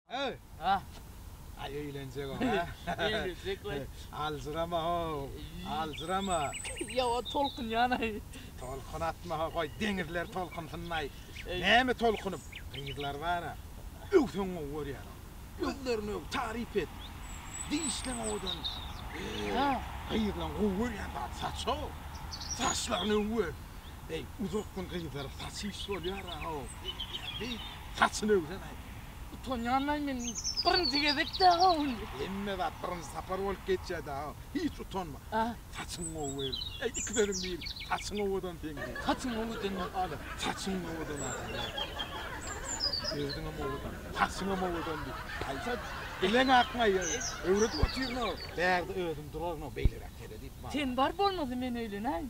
Öý! Aý öýlenjek ol, hä? Öýlenjek we. Aljyrama-how, aljyrama! Ýa-ha tolkunýan-aý! Tolkun atma-ha, goý, deňizler tolkunsyn-aý! Näme tolkunyp, gyzlar bar-a. Öw, sen gowy görýän-ow! Gözlerini öw, taryp et! Dişleň owadan! Öý, gyzlaň gowy görýän zady saç-how! Saçlaryny öw-öw! Eý, uzak gün gyzlara saç iş bolýar-a-how! Beýdýän, beýt! Saçyny öwsen-aý! Utanýanlaý men birinji gezek däl-ä ol. Hemme zat birinji sapar bolup geçýär däl-ä. Hiç utanma. Hä? Saçyň gowy beýl. Eý, iki sözüň biri. Saçyň owadan seň diý. Saçym owadanmy? Ana, saçyň owadan adamlar. Özüňem owadan. Saçyňam owadan diý. Aýsa, bileň akmaý. Öwredip otyryn-ow. Bärde özüm duraryn-ow, beýleräk seret-iý. Sen bar bolmaly men öýlenäýin.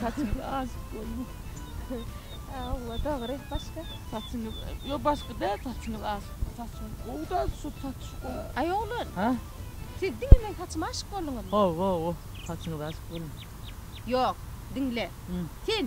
Saçyňy azyp goýma. Awa, dogry, başga? Saçyňy, yo başga däl, saçyňy azyp. Saçyň gowy da, şu saç gowy. Aý oglan. Ha? Siz diňe meň saçyma aşyk bolduňyzmy? Hawa, hawa, saçyňyza aşyk boldum. Ýok, diňle. Sen